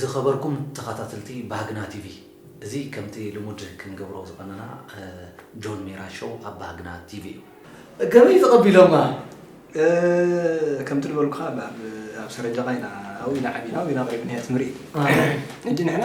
ዝኸበርኩም ተኻታትልቲ ባህግና ቲቪ እዚ ከምቲ ልሙድ ክንገብሮ ዝቐነና ጆን ሜራ ሾው ኣብ ባህግና ቲቪ እዩ። ከመይ ተቐቢሎማ? ከምቲ ዝበልኩኻ ኣብ ሰረጀቓ ኢና ኣብኡ ኢና ዓቢና ኣብኡ ኢና ቀሪብናዮ ትምህሪት ሕጂ ንሕና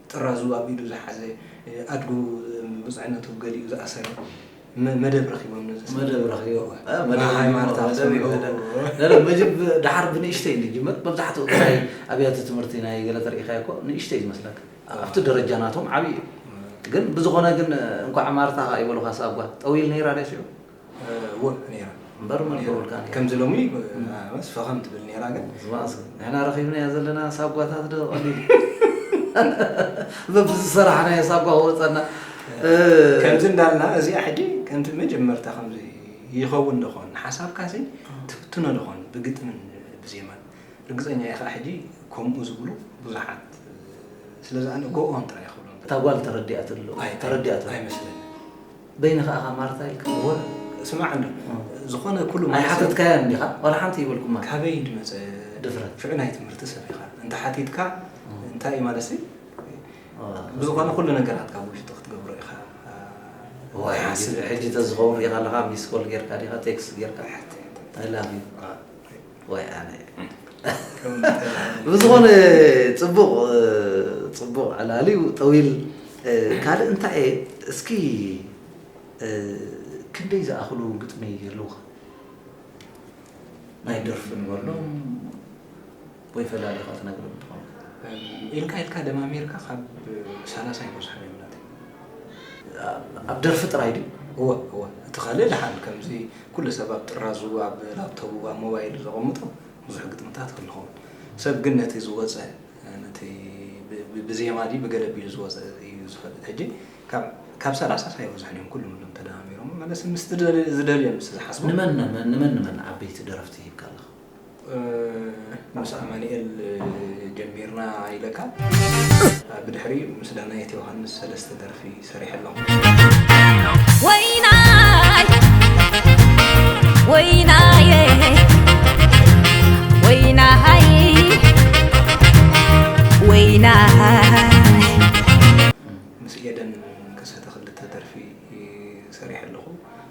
ጥራዙ ኣብ ኢዱ ዝሓዘ፣ ኣድጉ ብጹዕነቱ ገሊኡ ዝኣሰረ፣ መደብ ረኺቦም ነዚ ስራሕ። መደብ ረኺቦም። እ፣ መደብ ሃይማኖት ኣብ መደብ ሰምዑ። ይበለን። ነረ መጅብ ደሓር ብንእሽተይ እዩ ዝጅምር። መብዛሕትኡ ናይ ኣብያተ ትምህርቲ ናይ ገለ ተርኢኻዮ እኮ ንእሽተይ እዩ ዝመስለካ። ኣብቲ ደረጃ ናቶም ዓብዪ እዩ። ግን ብዝኾነ ግን እንኳዕ ማርታ ከኣ ይበሉኻ ስኣብ ጓል። ጠውይል ነይራ ድያ ሽዑ? ከምዚ ሎሚ ምስ ፈኸም ትብል ነራ ግን ንሕና ረኺብናያ ዘለና ሳጓታት ዶ ቀሊል በብዝሰራሕናዮ ሳጓ ክወፀና ከምዚ እንዳልና እዚኣ ሕጂ ከምቲ መጀመርታ ከምዚ ይኸውን ደኾን ሓሳብካ ሲ ትፍትኖ ደኾን ብግጥምን ብዜማን ርግፀኛ እየ ከዓ ሕጂ ከምኡ ዝብሉ ብዙሓት ስለዚ ኣነ ጎኦም ጥራይ ክብሎም እታ ጓል ተረዲኣትሉ ኣይመስለኒ በይንኻ እኻ ማርታ ኢልካ ወረ ስማዓኒ ዝኾነ ኩሉ ማርታ ኣይሓተትካያን ዲኻ ዋላ ሓንቲ ይበልኩማ ካበይ ድመጸ ድፍረት ፍዕ ናይ ትምህርቲ ሰብ ኢኻ እንተ ሓቲትካ እንታይ ማለሲ ብዝኾነ ኩሉ ነገራት ካብ ውሽጢ ክትገብሮ ኢኻ ዋይ ሓስብ ሕጂ ተዝኸውን ሪኻ ኣለኻ ሚስ ኮል ጌርካ ዲኻ ቴክስት ጌርካ ኣይ ላቭ ዩ ወይ ኣነ ብዝኾነ ፅቡቕ ፅቡቕ ዕላል እዩ ጠዊል ካልእ እንታይ እየ እስኪ ክንደይ ዝኣኽሉ ግጥሚ ይህልውኻ ናይ ደርፊ ንበሎም ወይ ፈላሊኻ ትነግረም ትኾን ኢልካ ኢልካ ደማሚርካ ካብ ሰላሳ ይበዝሑ እዮም ኣብ ደርፊ ጥራይ ድዩ? እወ እወ፣ እቲ ካልእ ደሓን ከምዚ ኩሉ ሰብ ኣብ ጥራዙ፣ ኣብ ላፕቶቡ፣ ኣብ ሞባይሉ ዘቐምጦ ብዙሕ ግጥምታት ክህሉ ይኸውን። ሰብ ግን ነቲ ዝወጸ ነቲ ብዜማ ድዩ ብገለ ኣቢሉ ዝወጸ እዩ ዝፈልጥ። ሕጂ ካብ ካብ ሰላሳስ ኣይበዝሑን እዮም ኩሎም እሎም ተደማሚሮም መለስ ምስ ዝደልዮም ምስ ዝሓስቦም ንመን ንመን ንመን ንመን ዓበይቲ ደረፍቲ ሂብካ ኣለኻ? ምስ ኣማኒኤል ጀሚርና ኢለካ ብድሕሪ ምስ ዳናየት ዮሃንስ ሰለስተ ደርፊ ሰሪሐ ኣለኹ ወይናይ ወይናየ ወይናይ ወይናይ ምስ ኤደን ከሰተ ክልተ ደርፊ ሰሪሐ ኣለኹ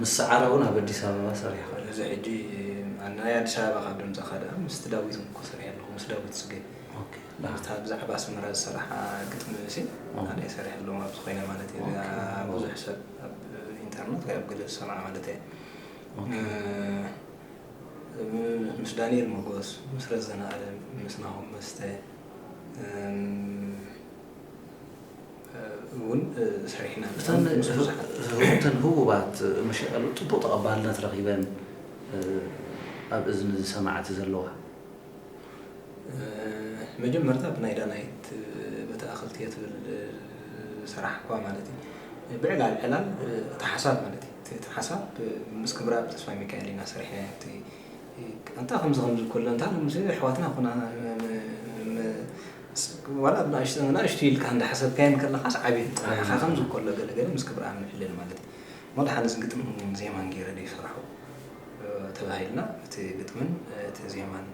ምስ ሰዓረ ውን ኣብ ኣዲስ ኣበባ ሰሪሕኻ። እዚ ሕጂ ናይ ኣዲስ ኣበባ ካብ ደምጸኻ ደኣ ምስቲ ዳዊት ውን እኮ ሰሪሐ ኣለኹ ምስ ዳዊት ጽጌ። ኦኬ። እታ ብዛዕባ ኣስመራ ዝሰራሓ ግጥሚ'ሲ ኣነ'የ ሰሪሐሎም ኣብዚ ኮይነ ማለት እየ እዚኣ ብዙሕ ሰብ ኣብ ኢንተርነት ወይ ኣብ ገለ ዝሰምዓ ማለት እየ። ኦኬ። ምስ ዳኒኤል ሞጎስ ምስ ረዘነ ኣለም ምስ ናሆም መስተ። እውን ሰሪሕና እተን ምስ ብዙሓት እተን ህቡባት መሸቀሉ ፅቡቅ ተቐባልነት ረኺበን ኣብ እዝኒ ሰማዕቲ ዘለዋ መጀመርታ ብናይ ዳናይት በቲ ኣኸልትየ ትብል ሰራሕኳ ማለት እዩ ብዕላል ዕላል እቲ ሓሳብ ማለት እዩ እቲ ሓሳብ ምስ ክብራ ብተስፋ ሚካኤል ኢና ሰሪሕና እቲ ኣንታ ከምዚ ከምዚ ኮሎ እንታ ምስ ኣሕዋትና ኮና ዋላ ብናእሽቱ ንኣሽቱ ኢልካ እንዳ ሓሰብካየን ከለኻስ ዓብየን ጸኒዕኻ ከምዚ ኮሎ ገለ ገለ ምስ ክብርኣብ ምሕለል ማለት እዩ እሞ ድሓንስ ግጥምን ዜማን ጌረ ደይሰራሑ ተባሂልና እቲ ግጥምን እቲ ዜማን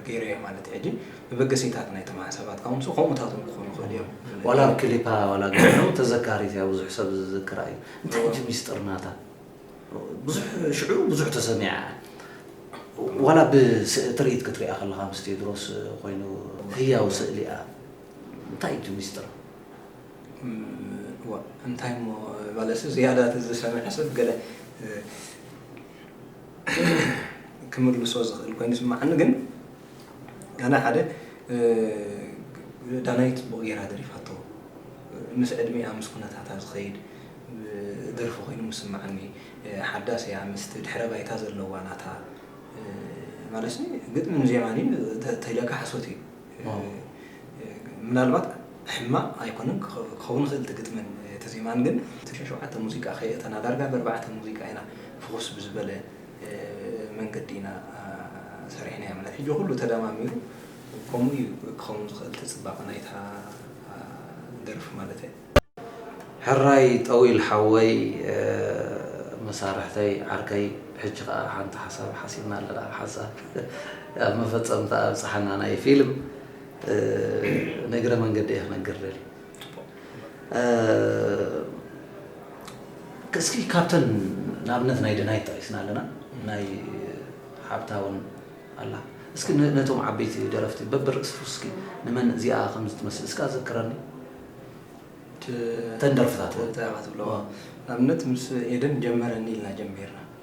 ገይረዮ ማለት እዩ ሕጂ መበገሲታት ናይቶም ሓሳባትካ እውን ከምኡታት እውን ክኾኑ ይኽእሉ እዮም ዋላ ክሊፓ ዋላ ገይሩ ተዘካሪት እያ ብዙሕ ሰብ ዝዝክራ እዩ እንታይ እቲ ሚስጥር ናታ ብዙሕ ሽዑ ብዙሕ ተሰሚዓ ዋላ ብትርኢት ክትሪኣ ከለኻ ምስ ቴድሮስ ኮይኑ ህያው ስእሊኣ እንታይ እቲ ሚስጥር እንታይ እሞ ባለሱ ዝያዳ ዝሰምዐ ሰብ ገለ ክምልሶ ዝኽእል ኮይኑ ስምዓኒ ግን ኣነ ሓደ ዳናይት ጽቡቅ ጌራ ደሪፋቶ ምስ ዕድሚኣ ምስ ኩነታታ ዝኸይድ ደርፊ ኮይኑ ምስምዓኒ ሓዳስ እያ ምስቲ ድሕረ ባይታ ዘለዋ ናታ ማለትሲ ግጥምን ዜማን እዩ ተተኢለካ ሓሶት እዩ ምናልባት ሕማቅ ኣይኮነን ክኸውን ይኽእል እቲ ግጥምን እቲ ዜማን ግን እቲ ሸውዓተ ሙዚቃ ከየእተና ዳርጋ በርባዕተ ሙዚቃ ኢና ፍኹስ ብዝበለ መንገዲ ኢና ሰሪሕናዮ ማለት ሕጂ ኩሉ ተዳማሚሩ ኮምኡ እዩ ክኸውን ዝኽእል ትጽባቐ ናይታ ደርፊ ማለት እየ። ሕራይ ጠዊል ሓወይ መሳርሕተይ ዓርከይ ሕጂ ከኣ ሓንቲ ሓሳብ ሓሲብና ኣለና ሓንሳብ ኣብ መፈጸምታኣ ኣብጽሓና ናይ ፊልም ንእግረ መንገዲ እየ ክነግር ደልየ። እስኪ ካብተን ንኣብነት ናይ ደናይት ጠቂስና ኣለና ናይ ሓብታ ውን ኣላ እስኪ ነቶም ዓበይቲ ደረፍቲ በብርእሲ እስኪ ንመን እዚኣ ከም ዝትመስል እስካ ዘክረኒ ተን ደርፍታት ትብሎ ንኣብነት ምስ ኤደን ጀመረኒ ኢልና ጀሚርና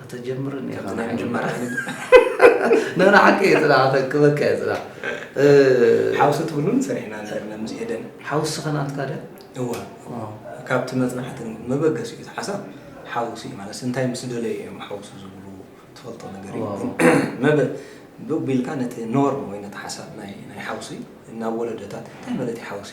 ከተጀምርን ኢኻ ናይ ምጅማር ዓይነት ንሕና ሓቂ እዩ ፅናዕ ከክበካ እዩ ፅናዕ ሓውሲ ትብሉን ሰሪሕና ነርና ምስ ኤደን ሓውሲ ከናትካ ደ እወ ካብቲ መፅናዕቲ መበገሲ እዩ ሓሳብ ሓውሲ እዩ ማለት እንታይ ምስ ደለዩ እዮም ሓውሲ ዝብሉ ትፈልጦ ነገር እዩ መበ ብቢልካ ነቲ ኖርም ወይ ነቲ ሓሳብ ናይ ሓውሲ ናብ ወለደታት እንታይ ማለት እዩ ሓውሲ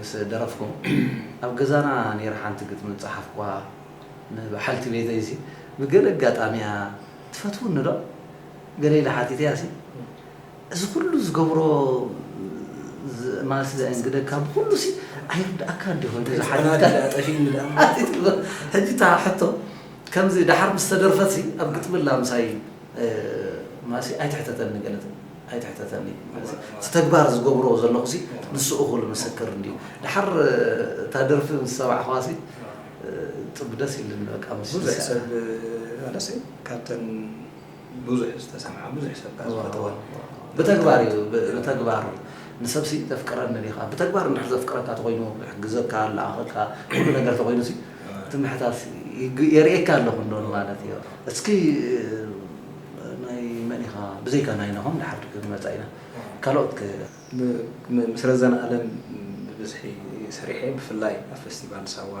ምስ ደረፍኩም ኣብ ገዛና ነይረ ሓንቲ ግጥሚ ጸሓፍኩዋ ንበሓልቲ ቤተይ ሲ ብገለ ኣጋጣሚ እያ ትፈትውኒ ዶ ገለ ኢለ ሓቲተያ ሲ እዚ ኩሉ ዝገብሮ ማለት ዘእንግደካ ብኩሉ ሲ ኣይርድኣካ እንዲኹ እንተ ሓቲትካ ድኣ ጠፊእኒ ድኣ ሓቲትካ ሕጂ እታ ሕቶ ከምዚ ደሓር ምስ ተደርፈት ሲ ኣብ ግጥሚ ኣላ ምሳይ ማሲ ኣይትሕተተኒ ገለ ትብል ኣይትሕተተኒ እዚ እቲ ተግባር ዝገብሮ ዘለኹሲ ንሱ እኹል ምስክር እንድዩ ደሓር እታ ደርፊ ምስ ሰማዕኽዋሲ ጥብ ደስ ኢልኒ በቃ ምስ ብዙሕ ሰብ ኣለሲ ካብተን ብዙሕ ዝተሰምዓ ብዙሕ ሰብ ከኣ ዝፈተወን ብተግባር እዩ ብተግባር ንሰብሲ ተፍቅረኒ ዲኻ ብተግባር እንድሕር ዘፍቅረካ ተኾይኑ ክሕግዘካ ልኣኸካ ኩሉ ነገር ተኾይኑሲ እቲ ምሕታት የርእየካ ኣለኹ እንዶ ንማለት እዩ እስኪ ናይ መን ኢኻ ብዘይካ ናይ ናሆም ድሓር ክንመጻ ኢና ካልኦት ከ? ምስ ረዘነ ኣለም ብብዝሒ ሰሪሐ ብፍላይ ኣብ ፈስቲቫል ሳዋ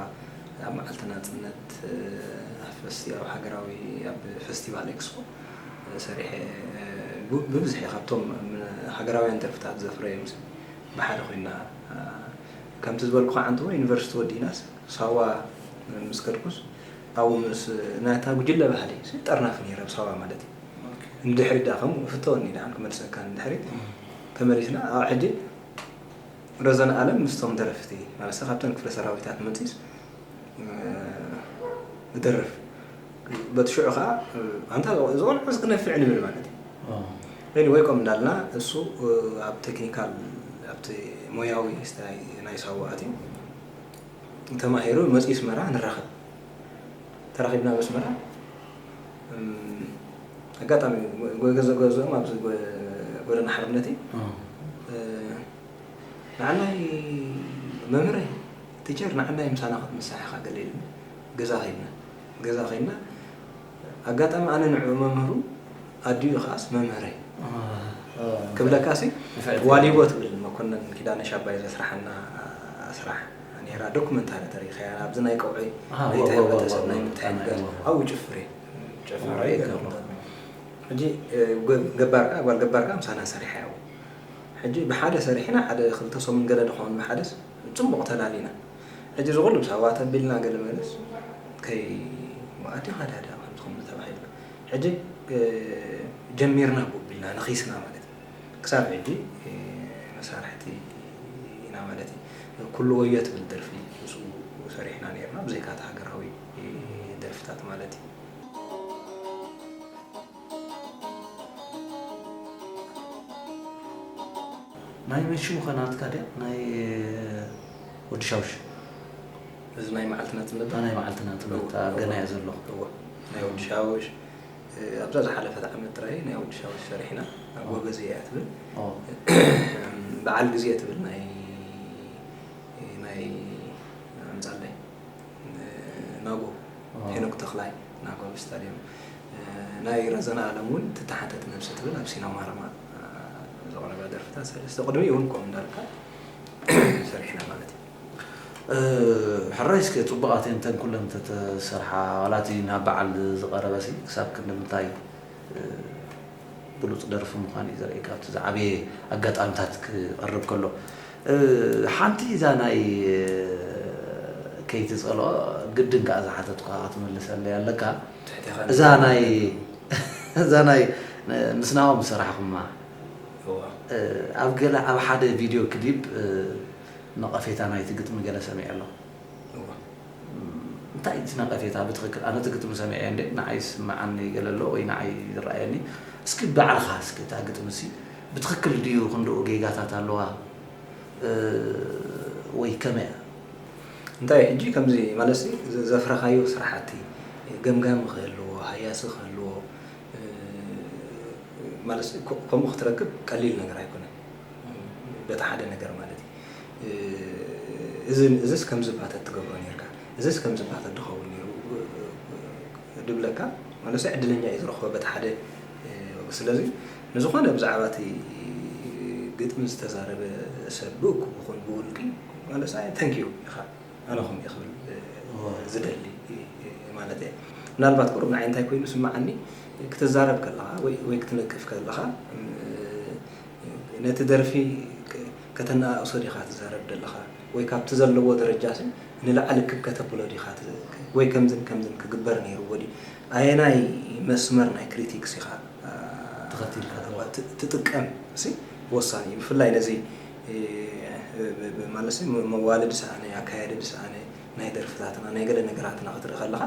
ኣብ መዓልቲ ናጽነት ኣፈስቲ ኣብ ሃገራዊ ኣብ ፈስቲቫል ኤክስፖ ሰሪሐ ብብዝሒ ካብቶም ሃገራውያን ደርፍታት ዘፍረዮምሲ ብሓደ ኮይና ከምቲ ዝበልኩኻ ዓንተቦ ዩኒቨርሲቲ ወዲእናስ ሳዋ ምስ ከድኩስ ኣብኡ ምስ ናይታ ጉጅለ ባህሊ ጠርናፊ ነይረ፣ ኣብ ሳዋ ማለት እዩ። ንድሕሪት ደኣ ከምኡ ፍተወኒ ደኣን ክመልሰካ ንድሕሪት ተመሊስና ኣብ ሕጂ ረዘነ ኣለም ምስቶም ደረፍቲ ማለት ካብተን ክፍለ ሰራዊታት መጺስ እደርፍ በቲ ሽዑ ከኣ ኣንታ ዝቆልዑስ ክነፍዕ ንብል ማለት እዩ። ኤኒወይ ከም እንዳልና እሱ ኣብ ቴክኒካል ኣብቲ ሞያዊ ናይ ሳዋ ኣትዩ ተማሂሩ መፅዩ ኣስመራ ንራኸብ ተራኺብና ኣብ ኣስመራ ኣጋጣሚ ገዘ ገዝኦም ኣብዚ ጎደና ሓርነት እዩ ንዓናይ መምህረይ ቲቸር ንዓናይ ምሳና ክትምሳሕ ኢኻ ገለ ኢሉኒ ገዛ ከይድና ገዛ ከይድና ኣጋጣሚ ኣነ ንዕኡ መምህሩ ኣዲኡ ከኣስ መምህረይ ክብለካሲ ዋሊቦ ትብል መኮነን ኪዳነ ሻባይ ዘስራሓና ስራሕ ኔራ ዶኩመንታሪ ተሪኸያ ኣብዚ ናይ ቀውዒ ናይቲ ሕብረተሰብ ናይ ምትሕግጋዝ ኣብኡ ጭፍር እዩ ጭፍር እዩ ገረምታት ሕጂ ገባር ከዓ ጓል ገባር ከዓ ምሳና ሰሪሓ እያ ሕጂ ብሓደ ሰሪሕና ሓደ ክልተ ሰሙን ገለ ንኸውን ብሓደስ ጽቡቕ ተላሊና ሕጂ እዚ ኩሉ ምስ ኣሕዋት ኣቢልና ገለ መለስ ከይ መኣዲ ሃዳዳ ከምዚ ከምዚ ተባሂልና ሕጂ ጀሚርና ቦቢልና ነኺስና ማለት እዩ ክሳብ ሕጂ መሳርሕቲ ኢና ማለት እዩ ኩሉ ወዮ ትብል ደርፊ ምስኡ ሰሪሕና ኔርና ብዘይካ እቲ ሃገራዊ ደርፍታት ማለት እዩ። ናይ መን ሽሙ ከ ናትካ ድያ ናይ ወዲ ሻውሽ። እዚ ናይ መዓልቲ ናቲ ነበር። ናይ መዓልቲ ናቲ በታ ገና እየ ዘለኹ። እወ ናይ ወዲ ሻውሽ ኣብዛ ዝሓለፈት ዓመት ጥራይ ናይ ወዲ ሻውሽ ሰሪሕና ኣብ ወገዝ እያ ትብል በዓል ግዜ ትብል ናይ ናይ ኣምጻለይ ናጎ ሄኖክ ተኽላይ ናጎ ኣብ ስታድየም ናይ ረዘነ ኣለም እውን ትተሓተት ነብሲ ትብል ኣብ ሲና ማረማ ዘቕረባ ደርፍታት ሰለስተ ቅድሚ እውን ኮም እንዳልካ ሰሪሕና ማለት እዩ ሕራይ እስከ ፅቡቃት እየን ተን ኩለን ተተሰርሓ ዋላ እቲ ናብ በዓል ዝቀረበ ክሳብ ክንዲ ምንታይ ብሉጽ ደርፊ ምዃኑ እዩ ዘርእየካ ኣብቲ ዝዓበየ ኣጋጣሚታት ክቐርብ ከሎ ሓንቲ እዛ ናይ ከይትጸልኦ ግድን ከኣ ዝሓተትኳ ክትምልሰለይ ኣለካ እዛ ናይ እዛ ናይ ምስ ናኦም ሰራሕኹማ ኣብ ገለ ኣብ ሓደ ቪድዮ ክሊፕ ነቐፌታ ናይቲ ግጥሚ ገለ ሰሚዐ ኣለኹ እንታይ እዩ እቲ ነቐፌታ ብትኽክል? ኣነ እቲ ግጥሚ ሰሚዐዮ እንድየ ንዓይ ዝስመዓኒ ገለ ኣሎ ወይ ንዓይ ዝረኣየኒ እስኪ ባዕልኻ እስኪ እታ ግጥሚሲ ብትኽክል ድዩ ክንድኡ ጌጋታት ኣለዋ ወይ ከመይ እያ? እንታይ ሕጂ ከምዚ ማለትሲ ዘፍረኻዮ ስራሕቲ ገምጋሚ ክህልዎ ሃያሲ ክህልዎ ማለት ከምኡ ክትረክብ ቀሊል ነገር ኣይኮነን በቲ ሓደ ነገር ማለት እዩ። እዝን እዝስ ከምዚ እባ ተትገብሮ ኔርካ እዝስ ከምዚ እባ ተድኸውን ኔሩ ድብለካ መንእሰይ ዕድለኛ እዩ ዝረኽቦ በቲ ሓደ ወገን ስለዚ ንዝኾነ ብዛዕባ እቲ ግጥሚ ዝተዛረበ ሰብ ብእኩብ ይኹን ብውልቂ መንእሰይ ተንክ ዩ ኢኻ ኣነ ከምኡ እየ ክብል ዝደሊ ማለት እየ ምናልባት ቁሩብ ንዓይ እንታይ ኮይኑ ስምዓኒ ክትዛረብ ከለኻ ወይ ክትነቅፍ ከለኻ ነቲ ደርፊ ከተነኣእሶ ዲኻ ትዛረብ ደለኻ ወይ ካብቲ ዘለዎ ደረጃሲ ንላዕሊ ክብ ከተብሎ ዲኻ ወይ ከምዝን ከምዝን ክግበር ነይርዎ ድዩ ኣየናይ መስመር ናይ ክሪቲክስ ኢኻ ትጥቀም ሲ ወሳኒ እዩ ብፍላይ ነዚ ማለትሲ መዋልድ ሰኣነ ኣካያድድ ሰኣነ ናይ ደርፍታትና ናይ ገለ ነገራትና ክትርኢ ከለኻ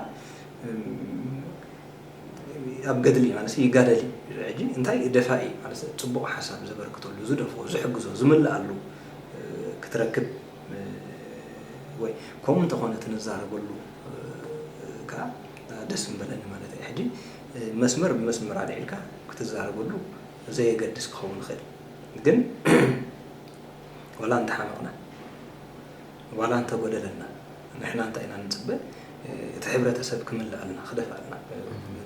ኣብ ገድሊ ማለት ይጋደል እዩ ሕጂ እንታይ ደፋኢ ማለት ጽቡቕ ሓሳብ ዘበርክተሉ ዝደፍኦ ዝሕግዞ ዝምልኣሉ ክትረክብ ወይ ከምኡ እንተኾነ ትንዛረበሉ ከዓ ደስ ምበለኒ ማለት እዩ ሕጂ መስመር ብመስመር ኣልዒልካ ክትዛረበሉ ዘየገድስ ክኸውን ይኽእል ግን ወላ እንተሓመቕና ዋላ እንተጎደለና ንሕና እንታይ ኢና ንጽበ እቲ ሕብረተሰብ ክምልኣልና ክደፍኣልና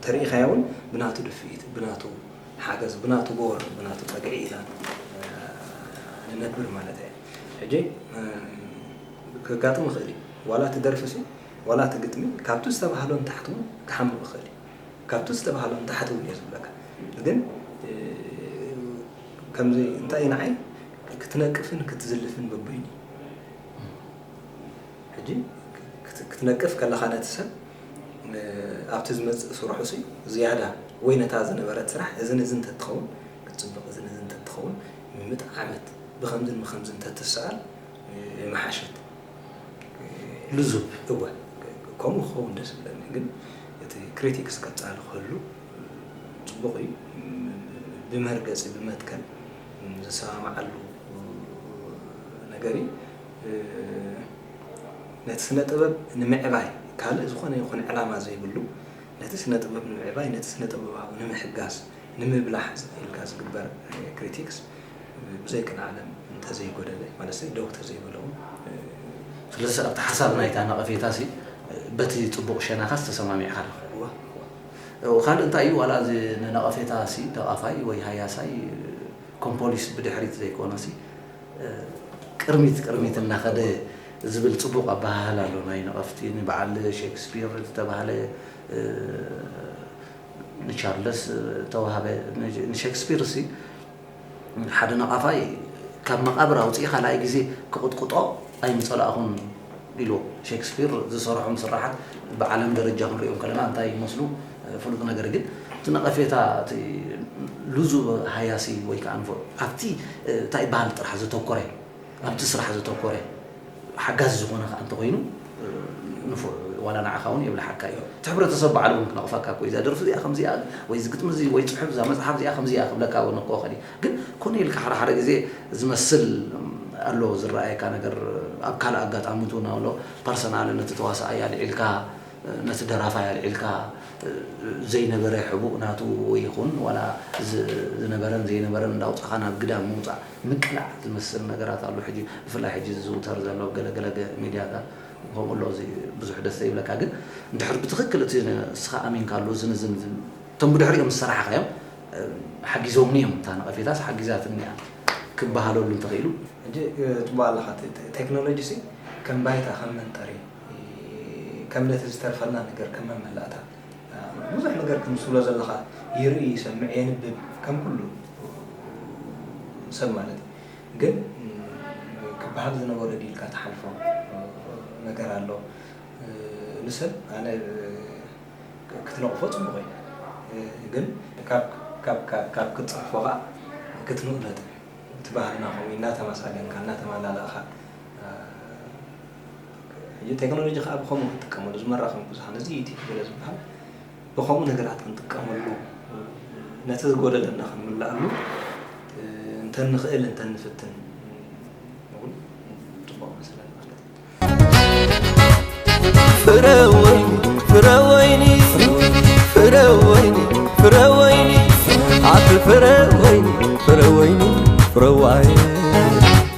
ተሪኢኻዮ ውን ብናቱ ድፍኢት ብናቱ ሓገዝ ብናቱ ጎወር ብናቱ ጸግዒ ኢና ንነብር ማለት እየ ሕጂ ከጋጥም ይኽእል እዩ ዋላ እቲ ደርፊ ሲ ዋላ እቲ ግጥሚ ካብቲ ዝተባህሎ ንታሕቲ ውን ክሓምቕ ይኽእል እዩ ካብቲ ዝተባህሎ ንታሕቲ ውን እየ ዝብለካ ግን ከምዚ እንታይ እዩ ንዓይ ክትነቅፍን ክትዝልፍን ግቡእን እዩ። ሕጂ ክትነቅፍ ከለኻ ነቲ ሰብ ኣብቲ ዝመጽእ ስርሑ ሲ ዝያዳ ወይ ነታ ዝነበረት ስራሕ እዚ ንዚ እንተትኸውን ክትጽብቕ እዚ ንዚ እንተትኸውን ምምጥዓመት ብከምዝን ብከምዝን እንተትሰኣል ምሓሸት ልዙብ እወ ከምኡ ክኸውን ደስ ብለኒ ግን እቲ ክሪቲክስ ቀጻሊ ክህሉ ጽቡቕ እዩ ብመርገጺ ብመትከል ዝሰማማዓሉ ነገር እዩ። ነቲ ስነ ጥበብ ንምዕባይ ካልእ ዝኾነ ይኹን ዕላማ ዘይብሉ ነቲ ስነ ጥበብ ንምዕባይ ነቲ ስነ ጥበባዊ ንምሕጋዝ ንምብላሕ ኢልካ ዝግበር ክሪቲክስ ብዘይ ቅንዓለም እንተዘይጎደለ ማለት ደው ተዘይበለው ስለዚ ኣብቲ ሓሳብ ናይታ ነቐፌታ በቲ ፅቡቕ ሸናኻስ ተሰማሚዕኻ ዶ? ካልእ እንታይ እዩ ዋላ እዚ ንነቐፌታ ሲ ደቓፋይ ወይ ሃያሳይ ኮምፖሊስ ብድሕሪት ዘይኮነ ሲ ቅርሚት ቅርሚት እናኸደ ዝብል ጽቡቕ ኣበሃህላ ኣሎ ናይ ነቐፍቲ ንበዓል ሼክስፒር ዝተባህለ ንቻርለስ ተዋህበ ንሼክስፒር ሲ ሓደ ነቓፋይ ካብ መቓብር ኣውጺኡ ካልኣይ ግዜ ክቕጥቕጦ ኣይምጸላእኹን ኢልዎ። ሼክስፒር ዝሰርሖም ስርሓት ብዓለም ደረጃ ክንርእዮም ከለና እንታይ ይመስሉ? ፍሉጥ ነገር ግን እቲ ነቐፌታ እቲ ልዙብ ሃያሲ ወይ ከኣ ንፉዕ ኣብቲ እንታይ ይበሃል ጥራሕ ዘተኮረ እዩ። ኣብቲ ስራሕ ዘተኮረ ሓጋዚ ዝኾነ ከኣ እንተኾይኑ ንፉዕ እዩ ዋላ ንዓኻ ውን የብልሓካ እዩ እቲ ሕብረተሰብ ባዕሉ ውን ክነቕፈካ እኮ እዩ እዛ ደርፊ እዚኣ ከምዚ እያ ወይ እዚ ግጥሚ እዚ ወይ ጽሑፍ እዛ መጽሓፍ እዚኣ ከምዚ እያ ክብለካ ውን እኮ ይኽእል እዩ ግን ኮነ ኢልካ ሓደ ሓደ ግዜ ዝመስል ኣሎ ዝረኣየካ ነገር ኣብ ካልእ ኣጋጣሚት ውን ኣሎ ፐርሰናል ነቲ ተዋሳኣይ ኣልዒልካ ነቲ ደራፋይ ኣልዒልካ ዘይነበረ ሕቡእ ናቱ ይኹን ዋላ ዝነበረን ዘይነበረን እንዳውጻኻ ናብ ግዳም ምውጻእ ምቅላዕ ዝመስል ነገራት ኣሎ ሕጂ ብፍላይ ሕጂ ዝዝውተር ዘሎ ኣብ ገለ ገለ ሚድያታት ከምኡ ኣሎ እዚ ብዙሕ ደስ ዘይብለካ ግን እንድሕር ብትኽክል እቲ ንስኻ ኣሚንካሉ እዝን እዝን እዝን እቶም ብድሕሪኦም ዝሰራሕኻዮም ሓጊዞምኒ እዮም እታ ነቐፌታስ ሓጊዛትኒ እያ ክበሃለሉ እንተኽኢሉ ሕጂ ጽቡቕ ኣለኻ እቲ ቴክኖሎጂሲ ከም ባይታ ከም መንጠሪ ከም ነቲ ዝተርፈና ነገር ከም መመላእታ ብዙሕ ነገር ክም ትብሎ ዘለኻ ይርኢ ይሰምዕ የንብብ ከም ኩሉ ሰብ ማለት እዩ ግን ክበሃል ዝነበሮ ዲልካ ትሓልፎ ነገር ኣሎ ንሰብ ኣነ ክትነቕፎ ፅቡቕ እዩ ግን ካብ ክትፅርፎ ከዓ ክትንኡ ነጥብ እቲ ባህልና ከምኡ እዩ እናተመሳገንካ እናተመላለእኻ እዚ ቴክኖሎጂ ከኣ ብኸምኡ ክንጥቀመሉ እዚ መራኸቢ ብዙሃን እዚ ዩቲዩብ ገለ ዝበሃል ብኸምኡ ነገራት ክንጥቀመሉ ነቲ ዝጎደለና ክንምልኣሉ እንተንኽእል እንተንፍትን እውን ጽቡቕ መስለን ማለት እዩ ፍረወይኒ ፍረወይኒ ፍረወይኒ ፍረወይኒ ኣቲ ፍረወይኒ ፍረወይኒ ፍረዋይ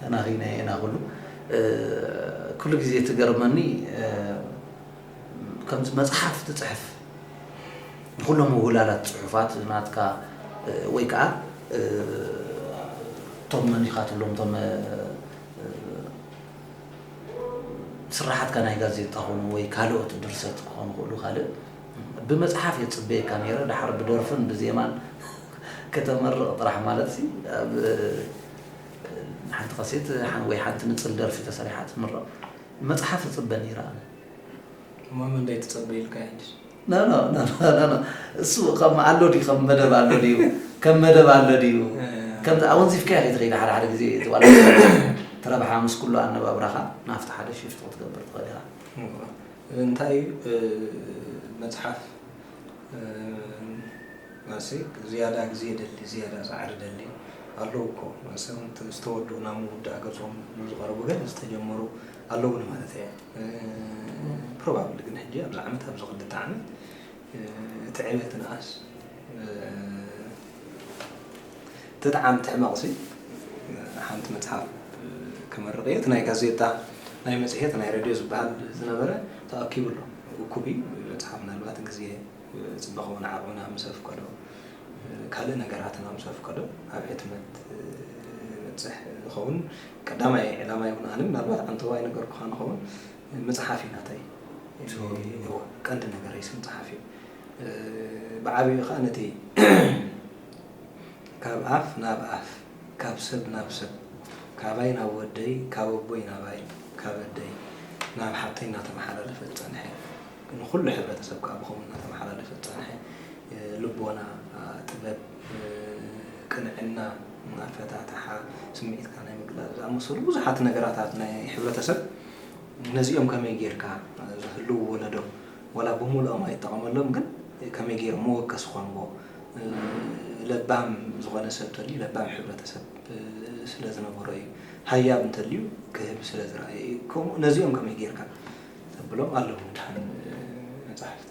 ተናኺናዮ ኢና ኩሉ ኩሉ ግዜ ትገርመኒ ከምዚ መጽሓፍ ትጽሕፍ ንኩሎም ምውላላት ጽሑፋት ናትካ ወይ ከዓ እቶም መን ኢኻ ትብሎም እቶም ስራሓትካ ናይ ጋዜጣ ኾኑ ወይ ካልኦት ድርሰት ክኾኑ ክእሉ ካልእ ብመጽሓፍ እየ ጽበየካ ነይረ ድሓር ብደርፍን ብዜማን ከተመርቕ ጥራሕ ማለት ኣብ ሓንቲ ካሴት ወይ ሓንቲ ንጽል ደርፊ ተሰሪሓ ትምረቕ መጽሓፍ እጽበ ነይረ ኣነ እሞ ምንዳይ ትጸበ ኢልካ ሕጅስ ኖ ኖ ኖ ኖ ኖ እሱ ከም ኣሎ ድዩ ከም መደብ ኣሎ ድዩ ከም መደብ ኣሎ ድዩ ከምዚ ኣወንዚፍካዮ ከይትኸይድ ሓደ ሓደ ግዜ እቲ ዋላ ትረብሓ ምስ ኩሉ ኣነባብራኻ ናብቲ ሓደ ሽፍቲ ክትገብር ትኽእል ኢኻ እንታይ እዩ መፅሓፍ ማሰይ ዝያዳ ግዜ ደሊ ዝያዳ ጻዕሪ ደሊ ኣለዉ እኮ ማሰም ዝተወዱ ናብ ምውዳእ ገጾም ንዝቐረቡ ገለ ዝተጀመሩ ኣለውን ማለት እየ ፕሮባብሊ ግን ሕጂ ኣብዚ ዓመት ኣብዚ ክልተ ዓመት እቲ ዕብየት ንኣስ ትጥዓም ትሕመቕሲ ሓንቲ መጽሓፍ ክመርቕ እየ እቲ ናይ ጋዜጣ ናይ መጽሔት ናይ ረድዮ ዝበሃል ዝነበረ ተኣኪቡ ኣሎ እኩብ እዩ ዝበጽሓ ምናልባት ግዜ ጽባቀኡን ዓቅሙና ምስ ኣፍቀዶ ካልእ ነገራትና ምስ ኣፍቀዶ ኣብ ሕትመት ይበጽሕ ይከውን ቀዳማይ ዕላማይ ውን ኣነ ምናልባት ኣንተዋ ኣይነገርኩካን ንከውን ምጽሓፍ እዩ ናተይ እወ ቀንዲ ነገረይሲ ምጽሓፍ እዩ ብዓቢኡ ከኣ ነቲ ካብ ኣፍ ናብ ኣፍ ካብ ሰብ ናብ ሰብ ካባይ ናብ ወደይ ካብ ኣቦይ ናባይ ካብ ኣደይ ናብ ሓብተይ እናተመሓላለፈ ዝፀንሐ ንኹሉ ሕብረተሰብ ከዓ ብኸምኡ እናተመሓላለፈ ዝፀንሐ ልቦና ጥበብ ቅንዕና ኣፈታትሓ ስምዒትካ ናይ ምግላፅ ዝኣመሰሉ ብዙሓት ነገራት ኣብ ናይ ሕብረተሰብ ነዚኦም ከመይ ጌርካ ዝህልው ወለዶ ዋላ ብምሉኦም ኣይጠቐመሎም ግን ከመይ ጌሮም መወከሲ ኾንዎ ለባም ዝኾነ ሰብ ተልዩ ለባም ሕብረተሰብ ስለ ዝነበሮ እዩ። ሃያብ እንተልዩ ክህብ ስለ ዝረኣየ እዩ። ከምኡ ነዚኦም ከመይ ጌርካ ተብሎም ኣለዉ ድሓን መጻሕፍቲ።